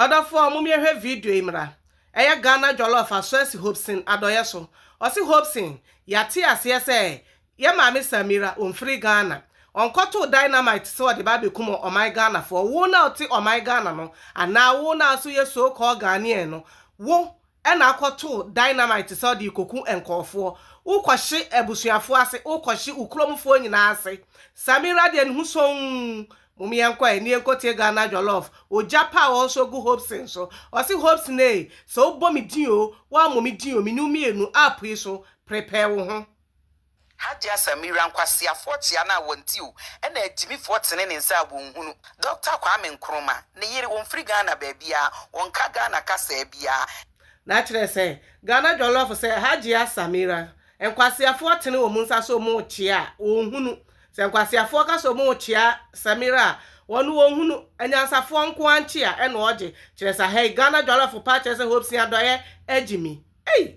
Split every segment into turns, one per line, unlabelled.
Ɔdɔfoɔ mom yɛhwɛ video yi mmra. Ɛyɛ Ghana jollof a soɛsi Hobson adɔeɛ so. Ɔse Hobson yɛate aseɛ sɛ yɛ maame Samira ɔnfiri Ghana. Ɔnkɔtoo dynamite sɛ ɔde ba abɛkum ɔman Ghanafoɔ. Wo no a wote ɔman Ghana no anaa wo no a nso yɛ so called Ghanaian no wo ɛna akɔtoo dynamite sɛ ɔde rekɔku nkurɔfoɔ, wokɔhye abusuafoɔ ase, wokɔhye wo kurom foɔ nyinaa ase, Samira deɛ ne ho sonn, mom yɛnkɔ ɛ, nie nkɔtie Ghana jollof, ogya pa a wɔsɔ gu Hopeson so, ɔse Hopeson ee, sɛ wobɔ me din oo, woammɔ me din oo, me ne wo mmienu, app yi so, prepare wo ho. Hajia
Samira nkwaseafoɔ kyea no a wɔnte o ɛna agyimifoɔ tene ne nsa a wɔnhunu Dɔkta Kwame Nkrumah ne yere wɔmfiri Ghana baabiara wɔnka Ghana kasaa biara. Na akyerɛ sɛ
Ghana jɔlɔfo sɛ Hajia Samira nkwaseafoɔ tene wɔn nsa sɛ wɔn rekyea a wɔnhunu Sɛ nkwaseafoɔ ka sɛ wɔn rekyea Samira a wɔn wɔnhunu Anyansafoɔ nko ara nkyea ɛna ɔgye kyerɛ sa hɛi Ghana jɔlɔfo paa kyerɛ sɛ hopsin adɔeɛ agyimi Ei!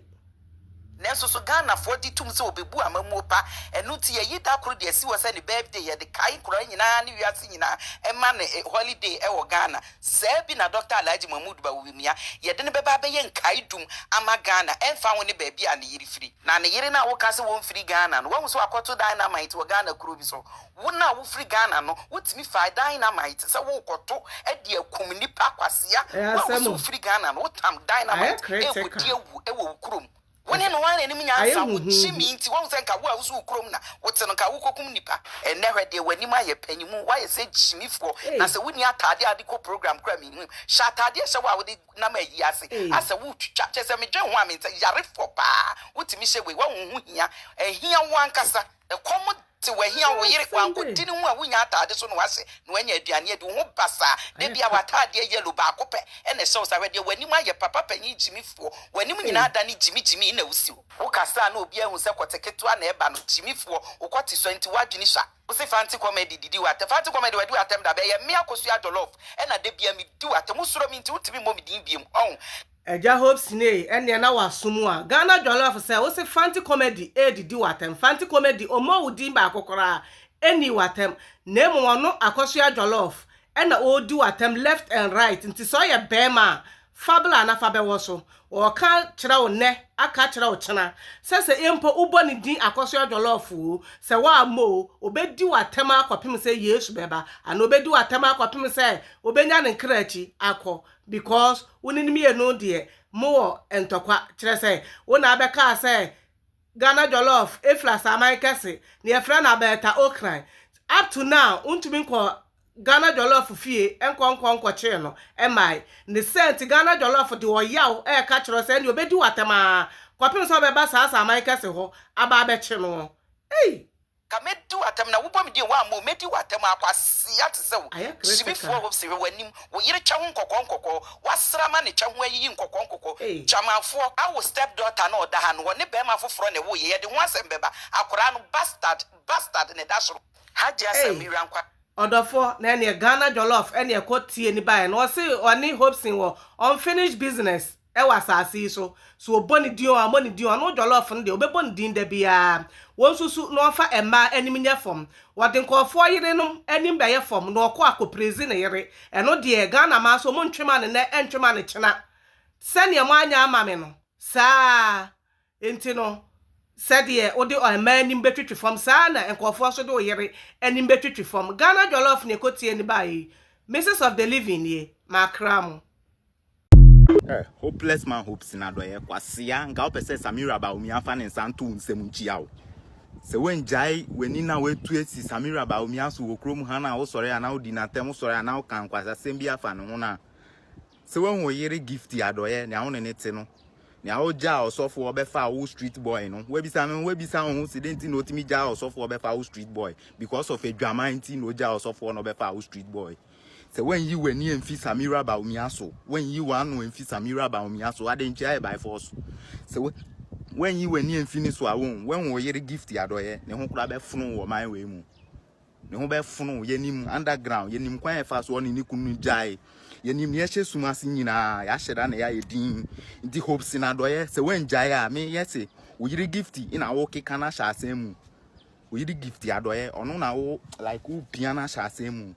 Nanso
so Ghanafoɔ gye tom sɛ wɔbɛbu amammuo pa? Ɛno nti yɛayi da koro de asi hɔ sɛ ne birthday, yɛde kae nkoraa nyinaa ne wiase nyinaa ɛma no holiday ɛwɔ Ghana. Saa bi na Dɔkta Alhaji Mahmood Bawumia, yɛde no bɛba abɛyɛ nkaedum ama Ghana ɛmfa ho ne baabi a ne yere firi. Na ne yere no a woka sɛ wɔmfiri Ghana no, woahu sɛ wakɔto dynamite wɔ Ghana kuro bi so? Wo no a wofiri Ghana no wotumi faa dynamite sɛ worekɔto de akum nnipa kwasea. Wo a wose wofiri Ghana no wotam dynamite rekɔdi awu wɔ wo kurom. Wo ne no ara na anim nyansa wo gyimii nti woahu sɛ nka wo a wose wo kurom na wote no nka wokɔkum nnipa. Ɛnnɛ hwɛ deɛ w'anim ayɛ panyinmu woayɛ sɛ gyimifoɔ na sɛ wonni ataadeɛ a wode kɔ program koraa menhu. Hyɛ ataadeɛ hyɛ wo a wode nam ayie ase asɛ woretwitwa kyerɛ sɛ medwen ho a mente. Yarefoɔ paa wotumi hyɛ wei woahu ho hia ɛhia wo ankasa. Ɛkɔm te wo ahia wo yere wankodin ho a wonnya ataade so na wase na wanya aduane adi wo ho basaa da biaa w'ataadeɛ yellow baako pɛ na ɛhyɛ wo saa hwɛ deɛ w'anim ayɛ papa panyin gyimi foɔ w'anim nyinaa adane gyimi gyimi na wosi hɔ wokasa a na obiaa hu sɛ kɔte ketewa na ɛba no gyimi foɔ wokɔ te sua nti w'adwene sua. Wose Fante comedy didi wo atɛm Fante comedy wadi w'atɛm da bɛn ɛyɛ me akosua jollof ɛna da biaa medi w'atɛm wosuro me nti wontumi mmɔ me din biom ɔho. Agya Hope
Sinay ɛneɛ na waso mu a Ghana dwaloafo sɛ wose Fante Comedy ɛredidi w'atɛm Fante Comedy ɔmmɔɔ wo din baako koraa ɛnnii w'atɛm na mmom ɔno Akosua Jollof ɛna ɔredi w'atɛm left and right nti sɛ ɔyɛ bɛɛma a fa bla na fa bɛwɔ so ɔɔka kyerɛ wo nnɛ aka akyerɛ wo kyena sɛ sɛ mpo wobɔ ne din Akosua Jollof oo sɛ woammɔ oo ɔbɛdi w'atɛm ara kɔpem sɛ Yesu bɛba anaa ɔbɛdi w'atɛm ara kɔpem sɛ wobɛnya ne nkra akyi akɔ Because wo ne no mmienu deɛ mo wɔ ntɔkwa kyerɛ sɛ wo na abɛkaa sɛ Ghana jollof ɛfiri asaman kɛse na yɛfrɛ no abɛɛta okran up to now wo ntumi nkɔ Ghana jollof fie nkɔ nkɔ nkɔkyee no mmae ne sɛ nti Ghana jollof de ɔyaw ɛɛka kyerɛ wo sɛ ɛnneɛ ɔbɛdi wo atɛm aa kɔpem sɛ ɔbɛba saa asaman kɛse hɔ aba abɛkye noɔ ei. Ka mɛdi wo
atɛm na wobɔ me din woammɔ o mɛdi wo atɛm a kwasea te sɛ wo Ayɛ kerɛ sɛ ka. Subifoɔ hopes hwɛ w'anim wo yere kyɛ ho nkɔkɔɔ nkɔkɔɔ woasrama ne kyɛ ho ayiyi nkɔkɔɔ nkɔkɔɔ Ei. Gyamanfoɔ a wo step daughter no ɔda ha no ɔne barima foforɔ na ɛwoo yɛ yɛde ho asɛm bɛba akwadaa no bastard bastard na ɛda soro Hajiah Ei. Samira nkwa. Ɔdɔfoɔ na ɛneɛ
Ghana jollof ɛneɛ kɔ tie ne baeɛ no ɔse ɔne Hopeson wɔ unfinished business Wɔ asase yi so, so ɔbɔ ne din o, ɔmmɔ ne din o, ɔno Jollof no deɛ, ɔbɛbɔ ne din da biara. Wɔnsusu na wɔmfa mmaa anim nyɛ fam. Wɔde nkurɔfoɔ yerenom anim bɛyɛ fam na ɔkɔ akɔpirezi ne yere. Ɛno deɛ, Ghana mmaa so, wɔntwe ma no nnɛ, ɛntwe ma no kyena. Sɛdeɛ moanyɛ ama me no, saa ara nti no, sɛdeɛ wode mmaa anim bɛtwitwi fam, saa ara na nkurɔfoɔ nso de wo yere anim bɛtwitwi fam. Ghana Jollof na ɛkɔtie no baeɛ yi. Mrs of the Living nie, makra mo. Eh,
hopeless man hope sin adɔeɛ kwasea nka wopɛ sɛ Samira Bawumia afa ne nsa nto wo nsam nkyia wo sɛ woangyae w'ani na woatu asi Samira Bawumia so wɔ kurom ha no a wosɔre a na wodi n'atɛm wosɔre a na woka nkwasasɛm bi afa ne ho no a sɛ woahu wo yere Gifty Adɔeɛ nea wo ne ne te no nea wogyaa ɔsɔfoɔ bɛfa wo street boy no woabisa me ho woabisa wo ho sɛ dɛn nti na otumi gyaa ɔsɔfoɔ bɛfa wo street boy because of adwaman nti na ogyaa ɔsɔfoɔ na ɔbɛfa wo street boy Sɛ woanyi w'ani amfi Samira Bawumia so, woanyi w'ano amfi Samira Bawumia so, ade nkyɛ ayɛ by force. Sɛ woanyi w'ani amfi ne so a, wohu, woahu wo yere Gift Adɔeɛ, ne ho koraa bɛfono wɔ ɔman wei mu. Ne ho bɛfono, yɛnim underground, yɛnim kwan a ɛfaa so ɔne ne kunu no gyae, yɛnim nea ɛhyɛ sum ase nyinaa, yɛahyɛ da na yɛayɛ din. Nti Hopeson Adɔeɛ, sɛ woangyae a, meyɛ se wo yere Gift na wokeka no ahyɛ asɛm mu. Oyi de gift adɔyɛ ɔno na wo like wo pia na hyɛ asɛm mu.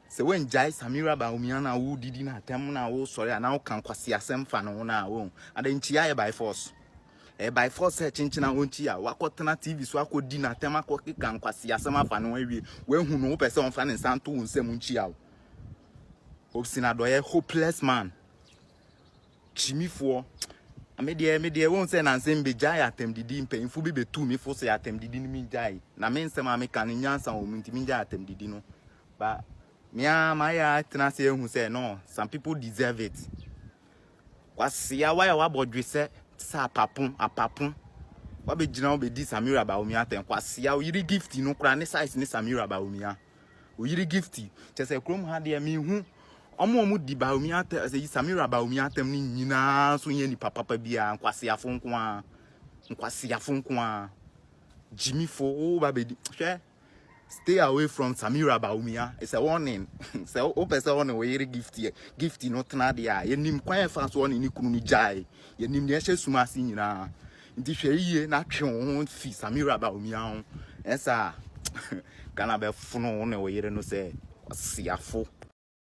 Sɛ wangyae Samira Baumia na wo didi na atɛm na wo sɔre a na wo kan kwasi asɛm fa no na wo. Ada nkyia yɛ by force. Eh by force sɛ kyenkyena wo nkyia wakɔtena TV so akɔdi na atɛm akɔkeka nkwasi asɛm afa no awie. Wahu no wopɛ sɛ ɔmfa ne nsa nto wo nsam nkyia wo. Obsina dɔyɛ hopeless man. kyimifoɔ me deɛ me deɛ wɔn sɛ nansɛm bɛgyae atɛmdidi mpanyinfoɔ bi bɛtu me fo sɛ atɛmdidi no mengyae na me nsɛm a meka no nyansa wɔ mu nti mengyae atɛmdidi no ba mea mayɛ atena ase ahu sɛ no some people deserve it kwasia wa a wabɔ dwe sɛ te sɛ apapo apapo wabɛgyina wobɛdi samira baomia atɛn kwasia wo yere gift no koraa ne size ne samira baomia Oyiri gifty. Kyɛ sɛ kurom ha deɛ mehu ɔmo a ɔmo di Baomi atam sɛ Samira Baomi atam ne nyinaa nso nyɛ nipa papa biara nkwaseafo nko ara nkwaseafo nko ara gyimifo wo ba bɛdi hwɛ stay away from Samira Baomi a it's a warning sɛ wopɛ sɛ ɔne wo yere gifty gifty no tena deɛ a yɛnim kwan ɛfa so ɔne ne kunu no gyae yɛnim deɛ ɛhyɛ sum ase nyinaa Nti hwɛ yiye na twe wo ho fi Samira Bawumia ho. Ɛnyɛ saa Ghana bɛfono wo ne wo yere no sɛ kwasiafo.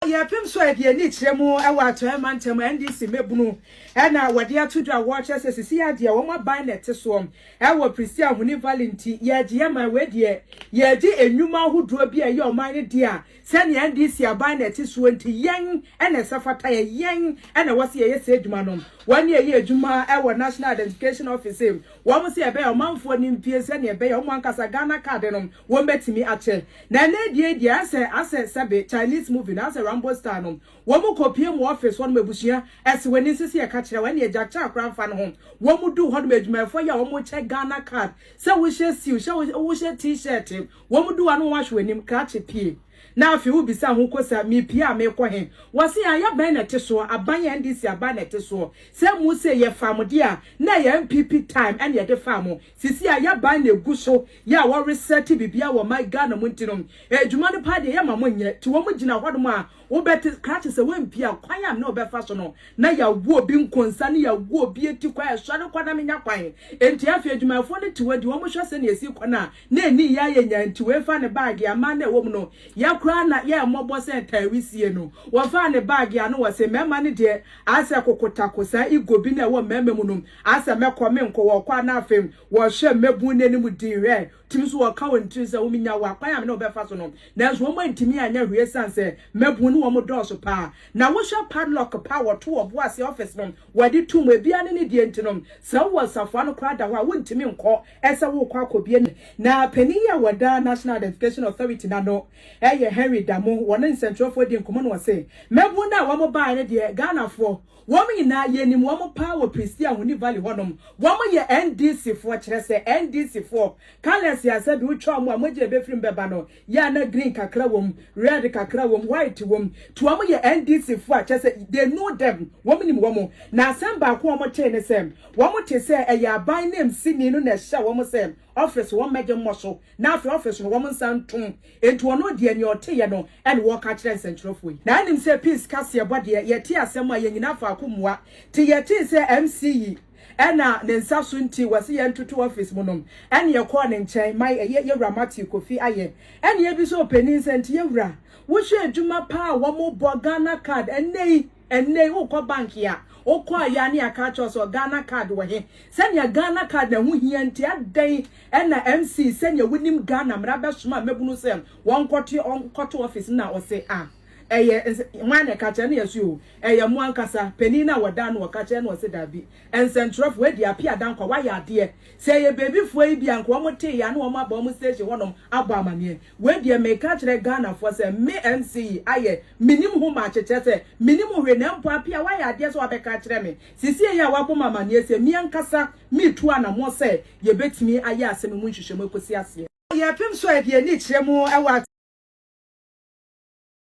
Yɛpem so
a deɛ ani kyerɛ mu wɔ Atɔeɛ mantam a NDC mmabunu na wɔde ato dwa a wɔkyerɛ sɛ sesie ara deɛ wɔn aban na ɛte soɔ wɔ Pristine Ahoni Valley nti, yɛagye yɛn man. Wei deɛ yɛredi nnwuma ahodoɔ bi a ɛyɛ ɔman no dea a Sɛnea NDC aban na ɛte soɔ nti, yɛn na ɛsɛ fata yɛn, yɛn na ɛwɔ sɛ yɛyɛ saa adwuma no. Wɔn na ɛyɛ adwuma wɔ National Identification Office, wɔn sɛ ɛbɛyɛ ɔmanfoɔ nim pie sɛnea ɛbɛyɛ wɔn ankasa Ghana card no wɔbɛtumi akyɛ. Na ɛnnɛ deɛ deɛ ayɛ sɛ asɛ sɛbe Chinese movie no, ayɛ sɛ Rambo style no, wɔn kɔ pie mu wɔ office hɔnom, abusua ɛse w'ani nse sɛ yɛka kyerɛ wo, ɛnneɛ gya kyɛ akora mfa ne ho. Wɔn duu hɔnom, adwumayɛfoɔ yi a wɔkyɛ Ghana card, sɛ wohyɛ suit, hyɛ wohyɛ T-shirt, Wɔn du hɔ a na wɔahwe w'anim krakye pie na afei wobisa ho kosa, Mepie a merekɔ he? Wɔse, Ayɛ bɛn na ɛte soɔ? Aban yɛ NDC aban na ɛte soɔ. Sɛ mo se yɛfaa mo deɛ a, na ɛyɛ NPP time na yɛde faa mo. Seesei a y'aban na ɛgu so yɛ a wɔresɛte biribiara wɔ ɔman Ghana mu nti nom, adwuma no paa deɛ yɛmma mo nyɛ. Nti wɔn gyina hɔnom a wobɛte krakye sɛ woampie a kwan a me ne wo bɛfa so no, na yɛawo obi nkonsa ne yɛawo obi ati kwan, sɔre kɔ na menya kwan. Nti afei adwumayɛfoɔ no te hɔ di wɔn hwɛ sɛnea ɛsi kɔ no a, Na enii yɛ a yenyae nti oefa ne baage, aman no a ewɔ mu no, yɛ koraa na yɛɛ mbɔbɔ sɛ ntaawisie no. Wɔfaa ne baage a ano wɔ se, mmarima no deɛ, asɛ kokotako, saa ego bi na ɛwɔ mmarima mu no, asɛ mɛkɔ, menkɔ, wɔkɔ a na afei wɔhwɛ mmabun no anim dinn, hwɛ, tumi nso wɔka wɔn tirim sɛ wominya wo a, kwan a me ne wo bɛfa so no, nanso wɔn antumi anyɛ hwee esiane sɛ mmabun no wɔn dɔɔso pa ara. Na wohwɛ padlock pa a wɔto wɔ boase office no, wɔde to mu, ebiara ne ne deɛ nti no, sɛ wowɔ safoa no koraa da hɔ a, wontumi nkɔ, sɛ worekɔ akɔbie no. Na panin yi a wɔda National Identification Authority no ano yɛ Henry Damu, wɔne nsɛnkyerɛwfoɔ dii nkɔmmɔ na ɔse, Mmabunu no a wɔbaeɛ no deɛ, Ghanafoɔ, wɔn nyinaa yɛnim wɔn paa wɔ Prestea Ahoni Valley hɔnom, wɔyɛ NDCfoɔ, kyerɛ sɛ, NDCfoɔ, colours a sɛbi wotwa wɔn a mogya a ɛbɛfiri mu bɛba no, yɛ a na green kakra wɔ mu, red kakra wɔ mu, white wɔ mu, nti wɔn yɛ NDC foɔ a kyerɛ sɛ they know them, wɔn nim wɔn, na asɛm baako a wɔn tee ne sɛ wɔn te sɛ ɛyɛ aban nanmsi ni no na ɛhyɛ wɔn sɛ office wɔn mmɛgye mmɔ so na afei office no wɔn nsa ntom, nti ɔno deɛ nea ɔteeɛ no na ɔreka akyerɛ nsɛnkyerɛfoɔ yi. Na anim sɛ peace kaseɛbɔ deɛ yɛtee asɛm a yɛn nyinaa faako mua, nti yɛtee sɛ MC yi, ɛna ne nsa so nti wɔsi yɛn ntoto office mu nom ɛne ɛkɔɔ ne nkyɛn ma ɛyɛ yɛwura Matthew Kofi ayɛ ɛne ebi so ɔpanin nsɛ nti yɛwura wohwɛ adwuma paa wɔn bɔ Ghana card ɛnɛ yi ɛnɛ yi wokɔ bank a wokɔ a yɛ ne aka akyerɛ sɛ Ghana card wɔ he sɛnea Ghana card na ɛho hia nti adɛn ɛna MC sɛnea wonim Ghana mmara bɛsoma a mɛbunu sɛ wɔn kɔto wɔn kɔto office na ɔse a. Ɛyɛ ns hwan na ɛka kyerɛ no? Yɛse oo, ɛyɛ mo ankasa, panin no a wɔdaa no wɔ ka kyerɛ no, ɔse daabi, nsɛnkyerɛwfo, wɔadi ape adankwa, wɔayɛ adeɛ, sɛ ɛyɛ baabifoɔ yi bi a, nka wɔn tee yɛ a na wɔn aba wɔn station hɔnom abɔ amaneɛ. Wei deɛ meka akyerɛ Ghanafoɔ sɛ me MC yi ayɛ, menim ho makye, kyerɛ sɛ menim ho hwee, na mpo ape a wɔayɛ adeɛ sɛ wɔabɛka akyerɛ me, sesie yi a wɔabɔ me amaneɛ sei, me ankasa meretu anamɔ sɛ yɛbɛtumi ayɛ asɛm yi mu nhwehwɛmu ɛkɔsi aseɛ. Yɛpem so a yɛde yɛn ani kyerɛ mu wɔ.